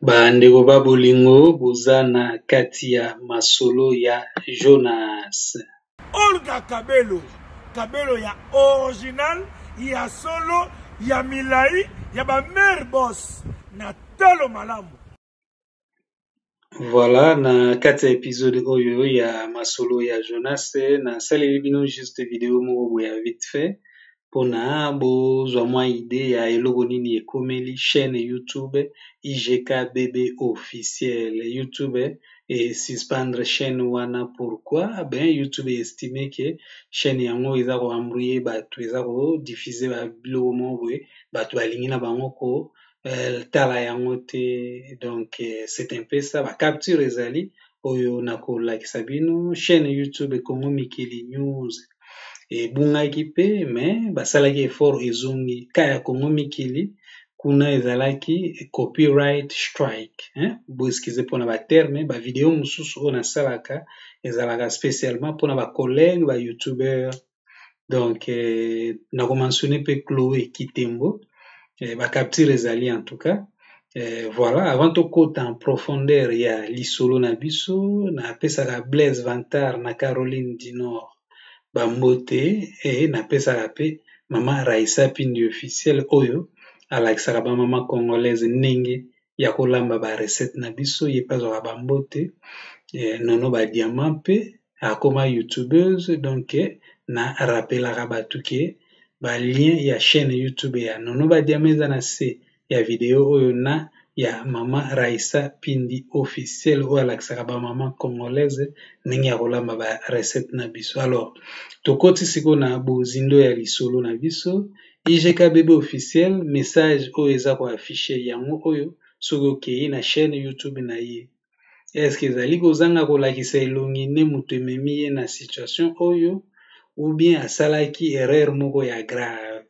Ba ndeko ba bolingo boza na kati ya masolo ya Jonas. Olga kabelo kabelo ya original ya solo ya milayi ya ba mère boss na talo malamu. Voilà na kati ya episode oyo ya masolo ya Jonas nasaleli bino juste video moko boye ya vite fait mpona bozwa mwa idee ya eloko nini ekomeli chaîne YouTube IGK BB officiel YouTube e suspendre chaîne wana pourquoi ben YouTube estime que chaîne yango eza ko embrouiller bato eza ko diffuser ba biloko moko boye bato balingi na bango ko euh, tala yango te donc euh, c'est un peu ça bacapture ezali oyo nakolakisa bino chaîne youtube congo mikili news ebungaki mpe mais basalaki effort ezongi ka ya congo mikili kuna ezalaki copyright strike hein? boeskize mpona baterme bavideo mosusu oyo nasalaka ezalaka spécialement mpona bacollègue bayoutubeur donc euh, na ko mentionner pe Chloe Kitembo euh, ba capture ezali en tout cas euh, voilà avant tokota en profondeur ya lisolo na biso napesaka Blaise Vantard na Caroline du Nord bambote et napesaka pe mama Raisa Pindi officiel oyo alakisaka ba mama congolaise ndenge ya kolamba ba recette na biso ye pe azwaka ba mbote nono ba diamant pe akoma youtubeuse donc na rappelaka batu ke ba lien ya chaîne youtube ya nono ba diamant eza na se ya video oyo na ya mama raisa pindi officiel oyo alakisaka ba mama congolaise ndenge ya kolamba ba recette na biso alors tokoti siko na bozindo ya lisolo na biso IGKBB officiel message oyo eza ko afficher yango oyo soki okeyi na chaine YouTube na ye. Est ce que ezali kozanga kolakisa elongi nde moto ememi ye na situation oyo ou bien asalaki erreur moko ya grave?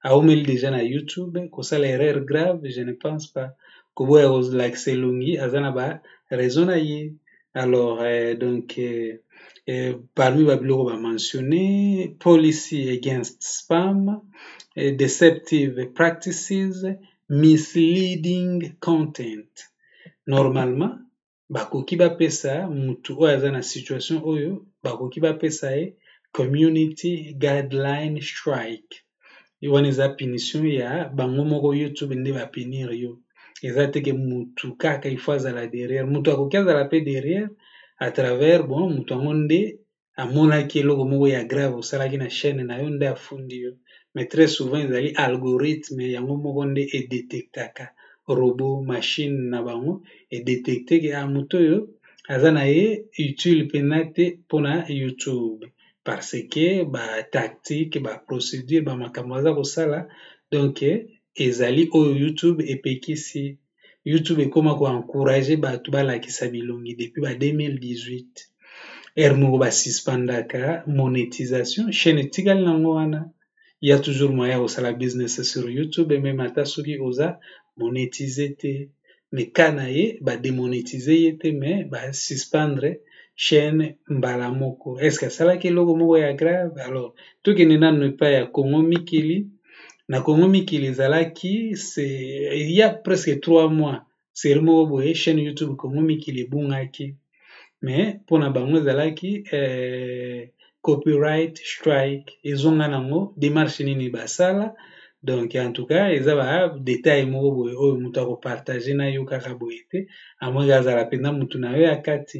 Awumeli dejà na YouTube kosala erreur grave? Je ne pense pas. Koboya kolakisa elongi aza na ba raison na ye. Alors, euh, donc, euh, euh, parmi Babylon va mentionner policy against spam, euh, deceptive practices, misleading content. Normalement, bakoki bapesa mutu oyo aza na situation oyo bakoki bapesa ye community guideline strike yo wana eza punition ya bango moko youtube nde ba punir yo eza te ke mutu kaka il faut azala derrière mutu akoki azala mpe derrière à travers bon mutu yango nde amonaki eloko moko ya grave osalaki na chaîne na yo nde afundi yo mais très souvent ezali algorithme yango moko nde edetectaka robot machine na bango edetecte ke ah mutu oyo aza na ye utile mpena te mpona youtube parce que ba tactique ba procedure ba makambo baza kosala donc ezali oyo youtube epekisi youtube ekoma ko encourage bato balakisa bilongi depuis ba 2018 heure moko ba suspendaka monetisation chaine etikali na yango wana il y a toujours moyen ya kosala business sur youtube et meme ata soki oza monetize te mais ka na ye bademonetize ye te mais basuspendre chaîne mbala moko est ce que asalaki eloko moko ya grave alors tokende nanu epai ya congo mikili na congo mikili ezalaki il y a presque trois mois serie moko boye chaîne youtube congo mikili ebungaki mais mpo na bango ezalaki eh, copyright strike ezonga nango demarche nini basala donc en tout cas eza ba detail moko boye oyo moto akopartage na yo kaka boye te amoki azala mpenza motu na yo ya kati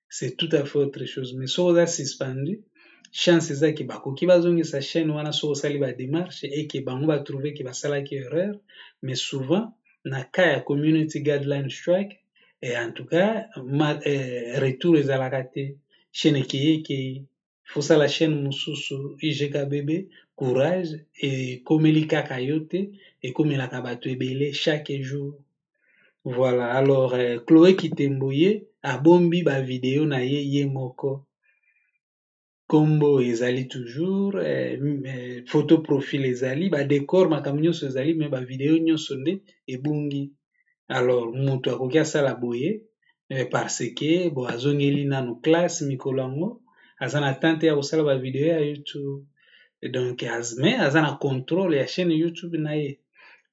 c'est tout à fait autre chose mais soki oza suspendu chance eza ke bakoki bazongisa chaîne wana soki osali ba démarche et ke bango ba trouve ke basalaki erreur mais souvent na cas ya community guideline strike et en tout cas ma, eh, retour ezalaka te chaîne ekeye ekeye fosala chaîne mususu IGK bebe courage ekomeli kaka yo te ekomelaka bato ebele chaque jour voilà alors euh, Chloé Kitembo ye abombi ba video na ye ye moko kombo ezali toujours eh, eh, photo profil ezali ba decor makambo nyonso ezali mais ba video nyonso nde ebungi alors mutu akoki asala boye eh, parce que bo azongeli nanu classe mikolo yango aza na tante ya kosala ba video ya YouTube donc az, mais aza na contrôle ya chaîne YouTube na ye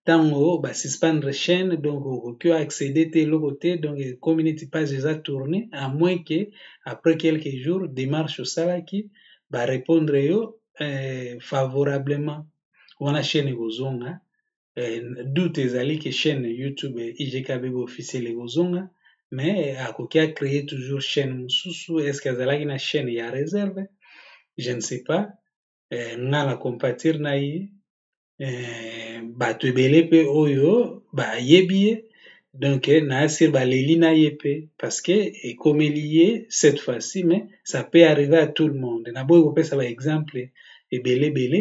ntango ba suspendre chaîne donc okoki accéder te eloko te donc ekomi neti page eza tourne à moins que après quelques jours démarche osalaki ba répondre yo eh, favorablement wana chaîne ekozonga eh, doute ezali ke chaîne youtube igk bebe officiel ekozonga mais akoki a créer toujours chaîne mosusu est ce que azalaki na chaîne ya réserve je ne sais pas eh, nga na compatir na ye eh, bato ebele mpe oyo bayebi ye donc eh, naasir baleli na ye mpe parce que ekomeli ye cette fois-ci mais ça peut arriver à tout le monde naboyi kopesa baexemple ebele ebele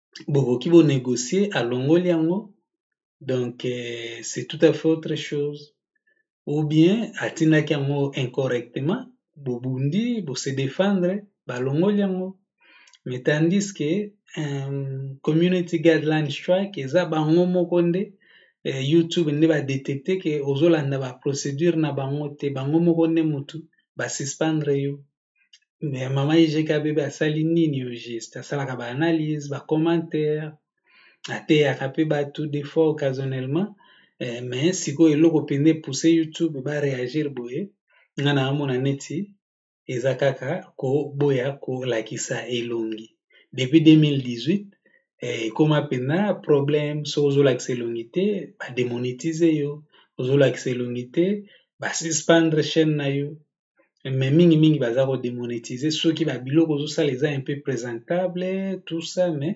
bokoki bo negocier alongoli yango donc c'est tout à fait autre chose ou bien atindaki yango incorrectement bobundi bo se defendre balongoli yango mais tandis que um, community guideline strike eza bango moko nde eh, youtube nde badetecte ke ozolanda baprocédure na bango te bango moko nde motu basuspendre yo mais mama IGK bebe asali nini au juste asalaka ba analyse ba commentaire ateyaka pe batu des fois occasionnellement eh, mais sikoyo eloko mpenza epousse youtube ba réagir boye nga na amona neti eza kaka koboya kolakisa elongi depuis 2018 eh, ekoma mpenza problème soki ozolakisa elongi te bademonetize yo ozolakisa elongi te basuspendre chaîne na yo mais mingi mingi baza ko demonetiser soki ba biloko ozosala eza un peu presentable tout ça mais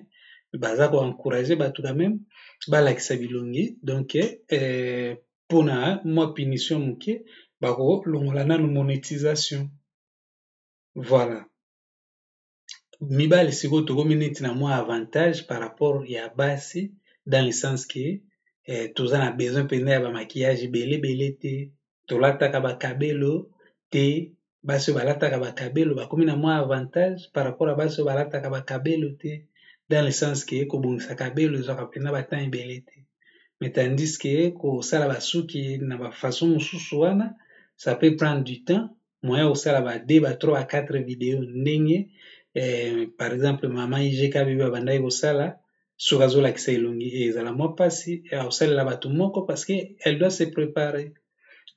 baza ko encourager bato quand même balakisa bilongi donc euh, mpona mwa punition moke bakolongola nanu monetisation voilà mibali sikoyo tokomi neti na mwa avantage par rapport ya basi dans le sens que eh, toza na besoin mpenza ya bamaquillage ebele ebele te tolataka bakabelo te basi oyo balataka bakabelo bakomi na mwa avantage par rapport ya basi oyo balataka bakabelo te dans le sens que kobongisa kabelo ezwaka mpenza batemp ebele te mais tandis que kosala basuki na bafaçon mosusu wana ça peut prendre du temps moyen kosala ba 2 ba 3 ba 4 video ndenge eh, par exemple mama igk bebe abandaki kosala soki azolakisa elongi eh, ezala mwa mpasi eh, akosalela bato moko parce que elle doit se préparer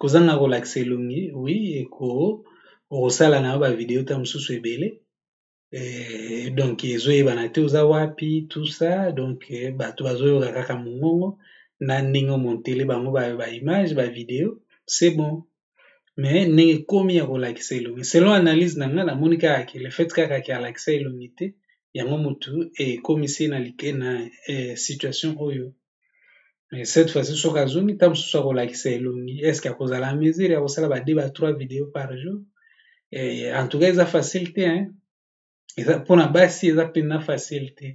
kozanga kolakisa elongi oui eko okosala na yo bavideo ta mosusu ebele eh, donc ezoyebana te oza wapi tout ça donc eh, bato bazoyoka kaka mongongo na ndenge omontele bango baimage ba bavideo c'est bon mais ndenge ekomi ya kolakisa elongi selon analyse na ngai namoni kaka ke le fait kaka ke alakisa elongi te yango motu ekomisi na, na eh, situation oyo mais cette fois ci soki azongi ntango mosusu akolakisa elongi est ce que akozala en mesure ya kosala ba deux ba trois video par jour eh, en tout cas eza facile te hein? eza mpo na basi eza mpenza facile te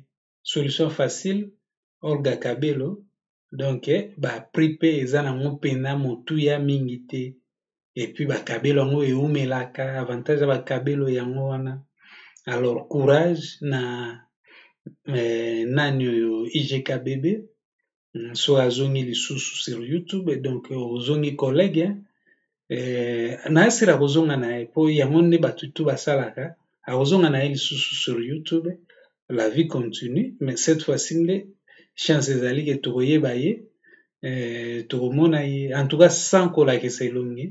solution facile olga kabelo donc eh, ba prix mpe eza nango mpenza motuya mingi te epuis ba kabelo yango ewumelaka avantage ya ba kabelo yango wana alors courage na nani oyo IGKBB so azongi lisusu sur YouTube donc ozongi collègue na asila akozonga na ye po yango nde batu tout basalaka akozonga na ye lisusu sur YouTube la vie continue mais cette fois ci nde chance ezali ke tokoyeba ye eh, tokomona ye en tout cas sans kolakisa elongi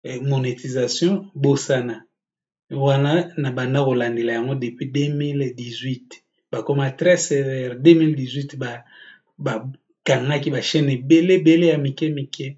eh, monétisation bosana wana na banda kolandela yango depuis 2018 bakoma très sévère 2018 ba bakangaki bachaîne ebele ebele ya mike mike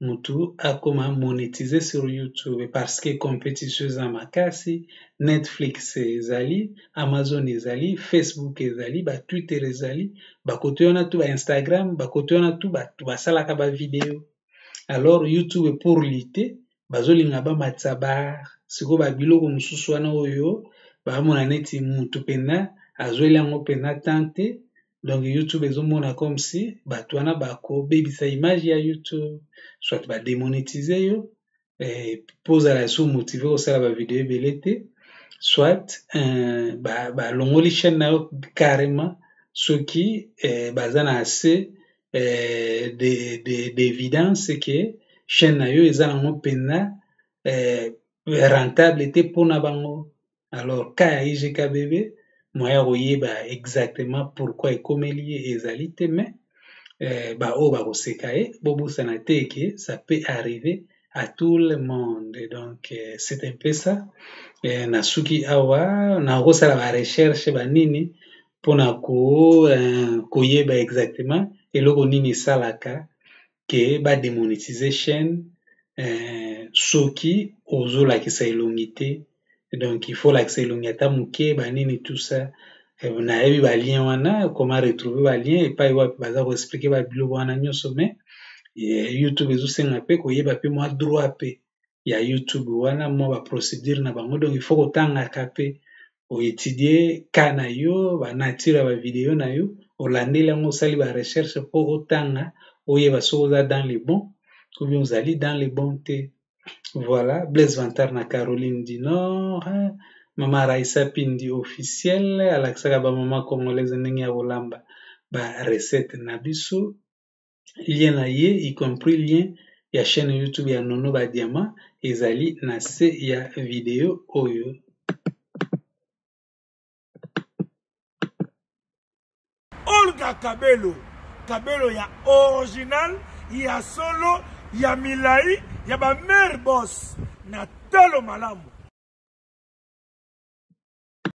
mutu akoma monetise sur YouTube parce que competition eza makasi, Netflix ezali, Amazon ezali, Facebook ezali, ba Twitter ezali, ba kote wana tout ba Instagram, ba kote wana tout batu basalaka ba video alors YouTube pour lutter bazolinga bamatisa ba sikoyo ba biloko mosusu wana oyo baamona neti mutu penza azweli yango penza temps te. donc youtube ezomona comme si bato wana bakobebisa image ya youtube soit bademonetize yo eh, mpo ozala su motive kosala bavideo ebele te soit eh, balongoli ba chaîne na yo carrément soki eh, baza na assez eh, d'évidence de, de, ke chaîne na yo eza nango mpenza eh, rentable te mpo na bango alors ka ya IGKBB moyen ya koyeba exactement pourquoi ekomeli ye ezali te mais euh, baoyo bakoseka ye bobosana te ke ça peut arriver à tout le monde donc euh, c'est un peu ça euh, nasuki awa nakosala ba recherche banini mpona ko, euh, koyeba exactement eloko nini esalaka que ba demonetise chaine soki ozo lakisa elongi te donc il faut olakisa elongi ata muke ba nini tout ça nayebi ba lien wana koma retrouve ba lien epai wapi baza ko explique ba biloko wana nionso mais YouTube ezo senga pe koyeba pe mua droit pe ya YouTube wana mwa ba procedure na bango donc il faut kotangaka pe oetudie ka na yo ba nature ya ba video na yo olandeli yango osali ba recherche mpo otanga oyeba soki oza dans le bon ou bien ozali dans le bon te voilà Blaise Vantard na Caroline du Nord hein, mama Raissa Pindi officiel alakisaka ba mama congolaise ndenge ya kolamba ba recette na biso lien na ye y compris lien ya chaîne YouTube ya Nono ba Diamant ezali na se ya video oyo. Olga Kabelo, Kabelo ya original, ya solo, ya milai, ya ba mère boss na talo malamu.